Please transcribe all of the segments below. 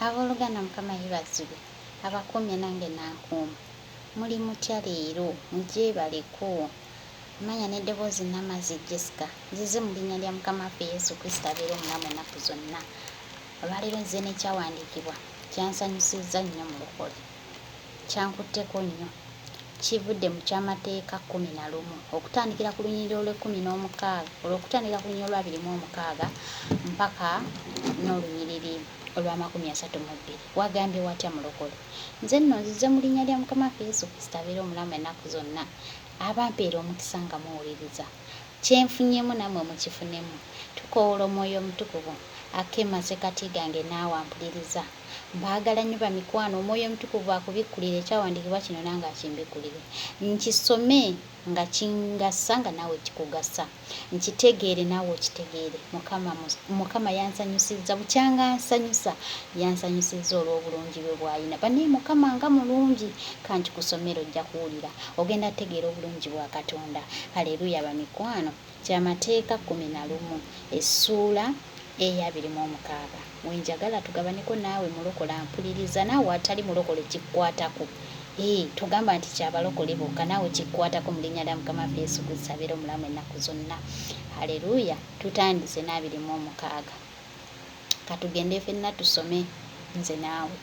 Abooluganda Mukama yeebazibwe abakuumye nange n'ankuuma. Muli mutya leero? Mugyebaleko. Amanya n'eddoboozi Namazzi Jessica. Nzize mu linnya lya Mukama waffe Yesu Kristo abeera omulamu ennaku zonna. Olwaleero nzize n'ekyawandiikibwa kyansanyusizza nnyo mulokole. kyankutteko nnyo kivudde mu ky'amateeka kkumi na lumu okutandikira ku lunyiriri olw'ekkumi n'omukaaga olw'okutandikira ku lunyiriri olw'abiri mu omukaaga mpaka n'olunyiriri olw'amakumi asatu mu bbiri wagambye watya mulokole nze nno nzize mu linnya lya mukama waffe yesu kristo abeera omulamu ennaku zonna abampeera omukisa nga muwuliriza kyenfunyemu namwe mukifunemu tukowoola omwoyo omutukuvu akema sekati gange naawe ampuliriza Mbaagala nnyo bamikwano, Omwoyo Omutukuvu akubikkulire ekyawandiikibwa kino nange akimbikkulire. Nkisome nga kingasa nga naawe kikugasa. Nkitegeere naawe okitegeere. Mukama, Mukama yansanyusizza, bukyanga ansanyusa. Yansanyusizza olw'obulungi bwe bw'alina. Banaye Mukama nga mulungi! Kankikusomere ojja kuwulira. Ogenda tegeera obulungi bwa Katonda. Haleruya bamikwano. Ky'amateeka kkumi na lumu, essuula eya abiri mu omukaaga, wenjagala tugabanyeko naawe mulokole ampuliriza naawe atali mulokole kikkwatako ee togamba nti kya balokole bokka naawe kikkwatako mu linnya lya Mukama waffe Yesu Kristo abeera omulamu ennaku zonna Hallelujah tutandise n'abiri mu omukaaga katugende fenna tusome nze naawe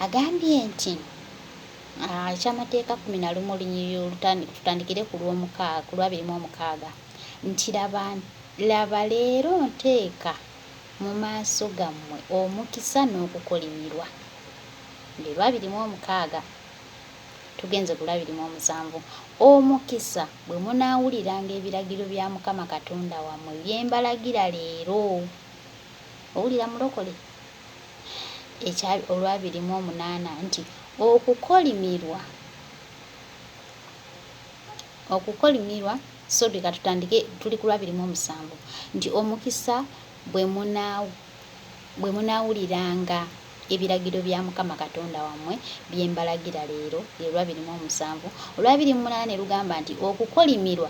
agambye nti Eky'amateeka kkumi na lumu olunyiriri olutandika, tutandikire ku lw'omukaaga, ku lw'abiri mu omukaaga, nti laba, laba leero nteeka mu maaso gammwe omukisa n'okukolimirwa. Lwe lw'abiri mu omukaaga, tugenze ku lw'abiri mu omusanvu. Omukisa bwe munaawuliranga ebiragiro bya Mukama Katonda wammwe bye mbalagira leero. Owulira mulokole? ekya olwabiri mu omunaana nti okukolimirwa okukolimirwa sorry katutandike tuli ku lwabiri mu omusanvu nti omukisa bwe munaawo bwe munaawuliranga ebiragiro bya mukama katonda wammwe bye mbalagira leero lye lwabiri mu omusanvu olwabiri mu munaana ne lugamba nti okukolimirwa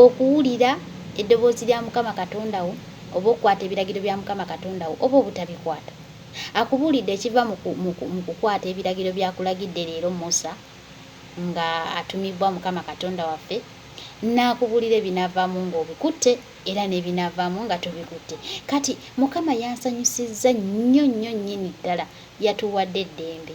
Okuwulira eddoboozi lya Mukama Katonda wo, oba okukwata ebiragiro bya Mukama Katonda wo, oba obutabikwata? Akubuulidde ekiva mu, mu, mu kukwata ebiragiro by'akulagidde leero, Musa, nga atumibbwa Mukama Katonda waffe, n'akubuulira ebinaavaamu nga obikutte, era n'ebinaavaamu nga tobikutte. Kati, Mukama yansanyusizza nnyo, nnyo nnyini ddala. Yatuwadde eddembe.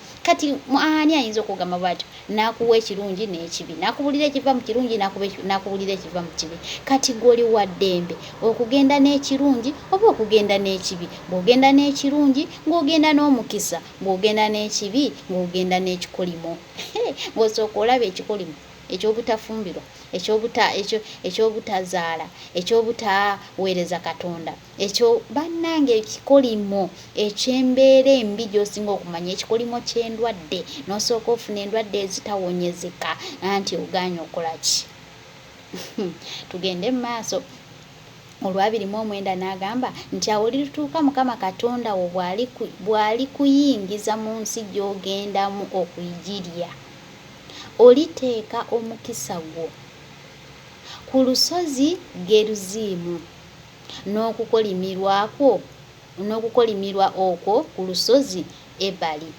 kati ani ayinza okugamba bwatyo nakuwa ekirungi n'ekibi nakubulira ekiva mu kirungi nakubulira ekiva mu kibi kati gwoli wa ddembe okugenda n'ekirungi oba okugenda n'ekibi ng'ogenda n'ekirungi ng'ogenda n'omukisa ng'ogenda n'ekibi ng'ogenda n'ekikolimo ng'osooka olaba ekikolimo eky'obutafumbirwa eky'obutazaala eky'obutaweereza katonda Ekyo bannange ekikolimo eky'embeera embi gy'osinga okumanya ekikolimo ky'endwadde n'osooka ofuna endwadde ezitawonyezeka anti ogaanye okukola ki tugende mu maaso olwabiri mu omwenda n'agamba nti awo litutuuka mukama katonda wo bw'ali kuyingiza mu nsi gy'ogendamu okugirya oliteeka omukisa gwo ku lusozi geruziimu n'okukolimirwa kwo, n'okukolimirwa okwo ku lusozi Ebali.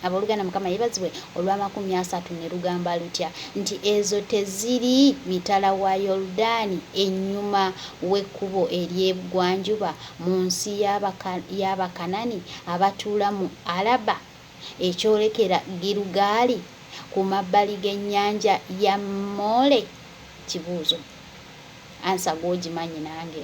Abooluganda, Mukama yebazibwe olw'amakumi asatu ne lugamba lutya nti, Ezo teziri mitala wa Yoludaani ennyuma w'ekkubo ery'ebugwanjuba mu nsi y'Abakanani abatuula mu Alaba ekyolekera Girugaali ku mabbali g'ennyanja ya Moole? Kibuuzo. Ansa gwe ogimanyi nange.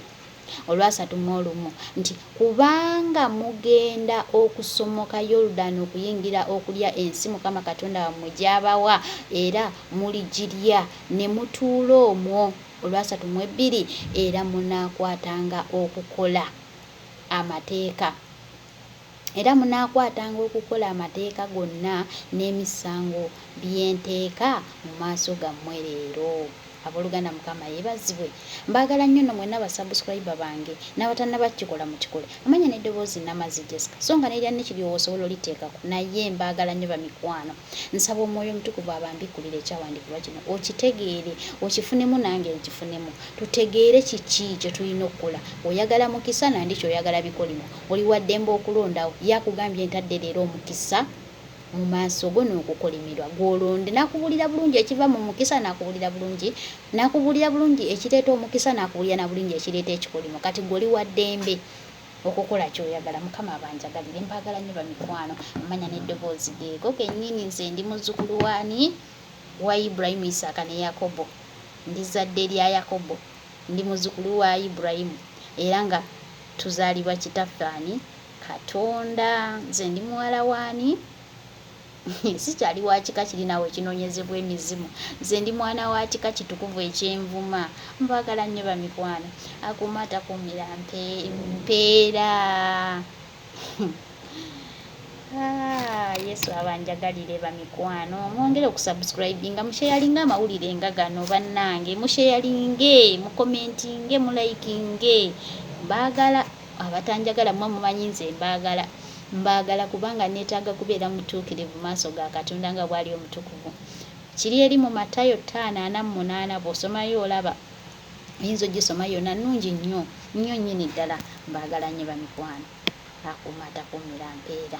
Olwasatu mu olumu, nti, Kubanga mugenda okusomoka Yorudani okuyingira okulya ensi Mukama Katonda wammwe gy'abawa, era muligirya ne mutuula omwo. Olwasatu mu ebbiri, era munaakwatanga okukola Amateeka. Era munaakwatanga okukola amateeka gonna n'emisango bye nteeka mu maaso gammwe leero. Aboluganda mukama yebazibwe mbagala nyo no mwena ba subscriber bange nabatanaba kikola mukikole amanya ne doboozi Namazzi Jesca so nga nelya Nick lyowa osobola olitekako naye mbagala nyo bamikwano nsaba omwoyo omutukuvu abambikulire ekyawandikibwa kino okitegeere okifunemu nange nkifunemu tutegeere kiki kyetulina okukola oyagala mukisa nandiki oyagala bikolimo Oli waddembe okulondawo. Ye akugambye ntadde leero omukisa mu maaso go n'okukolimirwa. Gwe olonde. Nakubuulira bulungi ekiva mu mukisa, nakubuulira bulungi, nakubuulira bulungi ekireeta omukisa, nakubuulira na bulungi ekireeta ekikolimo. Kati gwe oli waddembe okukola ky'oyagala. Mukama abanjagalire. Mbaagala nnyo bamikwano. Amanya n'eddoboozi geego gennyini. Nze ndi muzzukulu w'ani? Wa Ibrahim, Isaaka ne Yakobo. Ndi zzadde lya Yakobo. Ndi muzzukulu wa Ibulayimu, era nga tuzaalibwa Kitaffe ani? Katonda. Nze ndi muwala w'ani? Sikyali wa kika kiri naawe ekinoonyezebwa emizimu. Nze ndi mwana wa kika kitukuvu eky'envuma. Mbagala nnyo bamikwano. Akuuma atakuumira mpeera. Ah, yesu abanjagalire bamikwano mwongere okusubscribinga musheyalinga amawulire nga gano bannange musheyalinge mukomentinge mulayikinge mbaagala abatanjagala mwe mumanyi nze mbaagala mbaagala kubanga neetaaga kubeera mutuukirivu maaso ga katonda nga bwali omutukuvu kiri eri mu matayo ttaano ana mu munaana bw'osomayo olaba oyinza ogisoma yona nungi nnyo nnyo nyini ddala mbagala nnyo bamikwano akuuma atakuumira mpeera